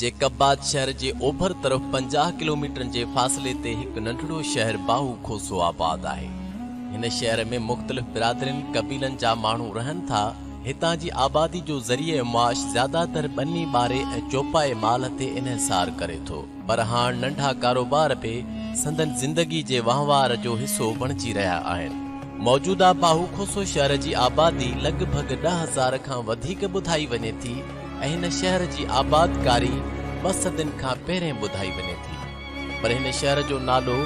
جيڪباد شهر جي اوڀر طرف پنجاهه ڪلوميٽرن جي فاصلي تي هڪ ننڍڙو شهر باهو کوسو آباد آهي. هن شهر ۾ مختلف برادرين، قبيلن، جا ماڻهو رهن ٿا. هتان جي آبادي جو ذريعه معاش زياده تر ٻني ٻاري ۽ چوپائي مال تي انحصار ڪري ٿو. پر هاڻ ننڍا ڪاروبار به سندن زندگي جي وهنوار جو حصو بڻجي رهيا آهن. موجوده باهو کوسو شهر جي آبادي لڳ ڀڳ ڏهه هزار کان وڌيڪ ٻڌائي وڃي ٿي. ۽ هن شهر جي آبادڪاري ٻه صدين کان پهرين ٻڌائي وڃي ٿي، پر هن شهر جو نالو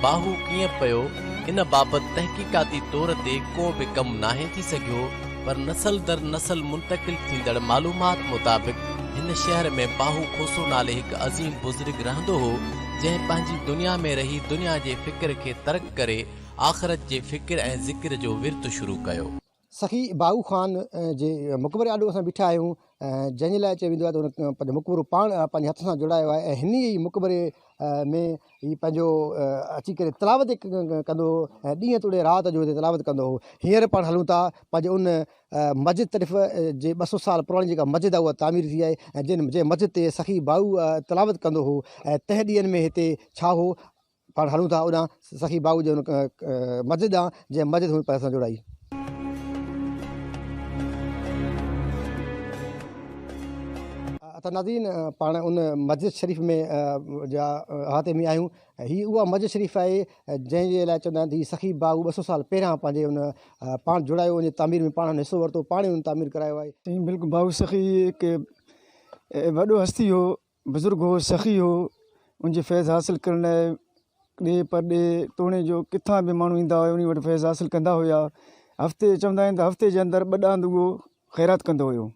باهو ڪيئن پيو ان بابت تحقيقاتي طور تي ڪو به ڪم ناهي ٿي سگهيو، پر نسل در نسل منتقل ٿيندڙ معلومات مطابق هن شهر ۾ باهو کوسو نالي هڪ عظيم بزرگ رهندو هو، جنهن پنهنجي دنيا ۾ رهي دنيا جي فڪر کي ترڪ ڪري آخرت جي فڪر ۽ ذڪر جو ورت شروع ڪيو. سخي باهو خان جي مقبري آڏو اسان بيٺا آهيون جنهن جي لاء چيو ويندو آهي ته هن پنهنجو مقبرو پاڻ پنهنجي هٿ سان جوڙايو آهي ۽ هن ئي مقبري ۾ هي پنهنجو اچي ڪري تلاوت ڪندو هو ۽ ڏينهن توڙي رات جو هتي تلاوت ڪندو هو هينئر پاڻ هلون ٿا پنهنجي ان مسجد طرف جي ٻه سؤ سال پراڻي جيڪا مسجد آهي اها تعمير ٿي آهي ۽ جن جنهن مسجد تي سخي باهو تلاوت ڪندو هو ۽ تنهن ڏينهن ۾ هتي ڇا هو پاڻ هلون ٿا اوڏانهن سخي باهوء جي ان مسجد ڏانهن، جنهن مسجد هن پير سان جوڙائي. اتا ناظرين! پاڻ ان مسجد شريف ۾ جا احاطي ۾ آهيون، هي اها مسجد شريف آهي، جنهن جي لاء چوندا آهن ته هي سخي باهوء ٻه سؤ سال پهريان پنهنجي ان پاڻ جوڙايو، ان جي تعمير ۾ پاڻ هن حصو ورتو، پاڻ ئي هن تعمير ڪرايو آهي. سائين بلڪل باهو سخي هڪ وڏو هستي هو، بزرگ هو، سخي هو، ان جي فيض حاصل ڪرڻ لاء ڏيهه پرڏيهه، توڻي جو ڪٿان به ماڻهو ايندا هيا، انهي وٽ فيض حاصل ڪندا هيا. هفتي، چوندا آهن ته هفتي جي اندر ٻه ڏاند اهو خيرات ڪندو هيو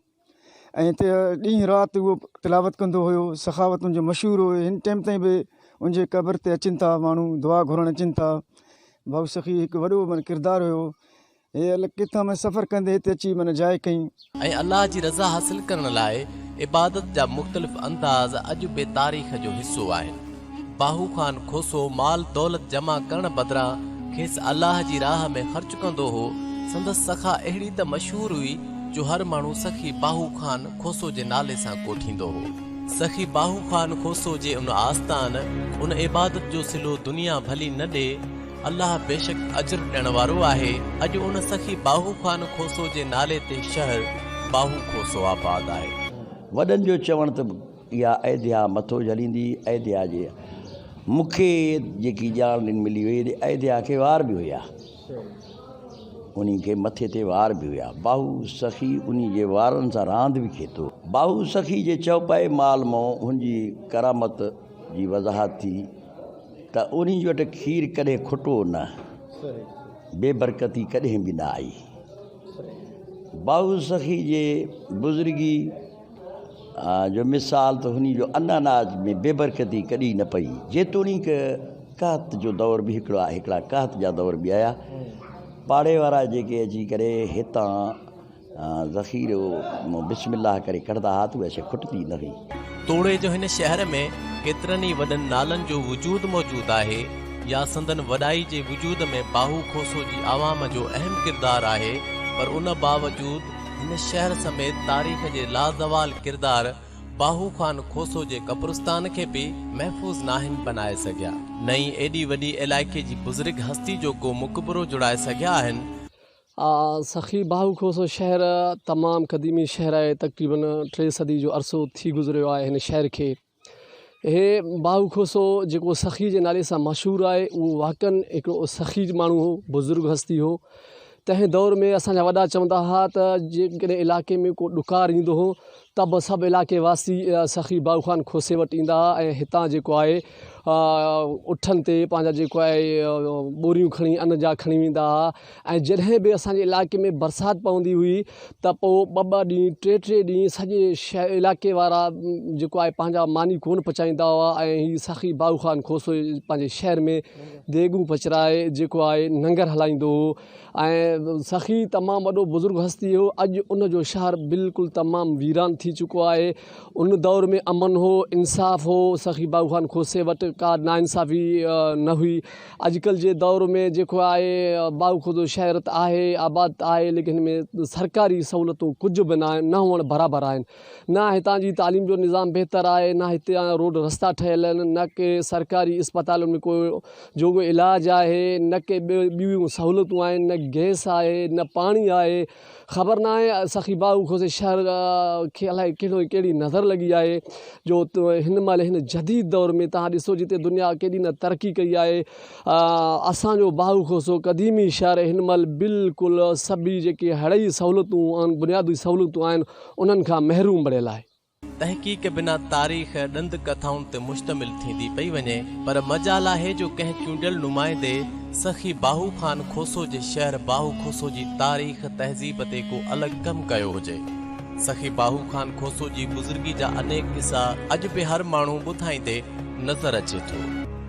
۽ هتي ڏينهن رات اهو تلاوت ڪندو هيو، سخاوت ان جو مشهور هو، هن ٽيم تائين به ان جي قبر تي اچن ٿا ماڻهو، دعا گهرڻ اچن ٿا. بابو سخي هڪ وڏو معنيٰ ڪردار هيو. اي الله! ڪٿان ۾ سفر ڪندي هتي اچي من جاء ڪئين. ۽ الله جي رضا حاصل ڪرڻ لاء عبادت جا مختلف انداز اڄ به تاريخ جو حصو آهن. باهو خان کوسو مال دولت جمع ڪرڻ بدران کيس الله جي راهه ۾ خرچ ڪندو هو. سندس سخا اهڙي ته مشهور هئي جو هر ماڻهو سخي باهو خان کوسو جي نالي سان ڪوٺيندو هو. سخي باهو خان کوسو جي ان آستان، ان عبادت جو صلو دنيا ڀلي نه ڏي، الله بيشڪ اجر ڏيڻ وارو آهي. اڄ ان سخي باهو خان کوسو جي نالي تي شهر باهو کوسو آباد آهي. وڏن جو چوڻ ته اها ايڌيا مٿو جهليندي ايڌيا جي مون کي جيڪي ڄاڻ ڏن ملي هئي ته ايڌيا کي وار به هيا انهي کي مٿي تي وار به هيا باهو سخي انهي جي وارن سان راند به کي ٿو باهو سخي جي چوپائي مال مون هن جي ڪرامت جي وضاحت ٿي ته اورينج وٽ کير ڪڏهن کٽو نه، بي برڪتي ڪڏهن به نه آئي. بائو سخي جي بزرگي جو مثال ته هن جو ان اناج ۾ بي برڪتي ڪڏي نه پئي. جيتوڻيڪ قحط جو دور به هڪڙو آهي، هڪڙا قحط جا دور به آيا، پاڙي وارا جيڪي اچي ڪري هتان ذخيرو بسم الله ڪري ڪڍندا ھئا ته اھا شيء کٽندي نه ھئي. توڙي جو ھن شهر ۾ ڪيترن ئي وڏن نالن جو وجود موجود آهي يا سندن وڏائي جي وجود ۾ باهو کوسو جي عوام جو اهم ڪردار آهي پر ان باوجود ھن شهر سميت تاريخ جي لازوال ڪردار باهو خان کوسو جي قبرستان کي به محفوظ ناهن بنائي سگهيا نه ئي ايڏي وڏي علائقي جي بزرگ هستي جو ڪو مقبرو جڙائي سگهيا آهن. آء سخي باهو کوسو شهر تمام قديمي شهر آهي تقريبن ٽي صدي جو عرصو ٿي گذريو آهي هن شهر کي هي باهو کوسو جيڪو سخي جي نالي سان مشهور آهي اهو واقعن هڪڙو سخي ماڻهو هو بزرگ هستي هو تنهن دور ۾ اسان جا وڏا چوندا ها ته جيڪڏهن علائقي ۾ ڪو ڏڪار ايندو هو ته به سڀ علائقي واسي سخي باهو خان کوسي وٽ ايندا ها ۽ هتان جيڪو آهي اٺن تي پنهنجا جيڪو آهي ٻوريون کڻي ان جا کڻي ويندا ها ۽ جڏهن به اسان جي علائقي ۾ برسات پوندي هئي ته پوء ٻه ٻه ڏينهن ٽي ٽي ڏينهن سڄي شهر علائقي وارا جيڪو آهي پنهنجا ماني ڪونه پچائيندا هئا ۽ هي سخي باهو خان کوسو پنهنجي شهر ۾ ديڳون پچرائي جيڪو آهي ننگر هلائيندو هو ۽ سخي تمام وڏو بزرگ هستي هو اڄ ان جو شهر بلڪل تمام ويران ٿي چڪو آهي ان دور ۾ امن هو انصاف هو سخي باغو خان کوسي وٽ ڪا نا انصافي نه هئي اڄ ڪل جي دور ۾ جيڪو آهي باغو خوردو شهر ته آهي آباد ته آهي ليڪن ان ۾ سرڪاري سهولتون ڪجهه به نه آهن نه هئڻ برابر آهن نه هتان جي تعليم جو نظام بهتر آهي، نه هتان روڊ رستا ٺهيل آهن، نه ڪي سرڪاري اسپتالن ۾ ڪو جوڳو علاج آهي، نه ڪي ٻيون سهولتون آهن، نه گئس آهي، نه پاڻي آهي، خبر ناهي سخي باهو کوسي شهر کي الائي ڪهڙو ڪهڙي نظر لڳي آهي جو هن مهل هن جديد دور ۾ توهان ڏسو جتي دنيا ڪيڏي نه ترقي ڪئي آهي. اسان جو باهو کوسو قديمي شهر هن مهل بلڪل سڀي جيڪي هڙئي سهولتون ۽ بنيادي سهولتون آهن انهن کان محروم بڻيل آهي. تحقيق بنا تاريخ ڏند ڪٿائن تي مشتمل ٿيندي پئي وڃي پر مجال آهي جو ڪنهن چونڊيل نمائندي سخي باهو خان کوسو جي شهر باهو کوسو جي تاريخ تهذيب تي ڪو الڳ ڪم ڪيو هجي. سخي باهو خان کوسو جي بزرگي جا انيڪ قصا اڄ به هر ماڻهو ٻڌائيندي نظر اچي ٿو.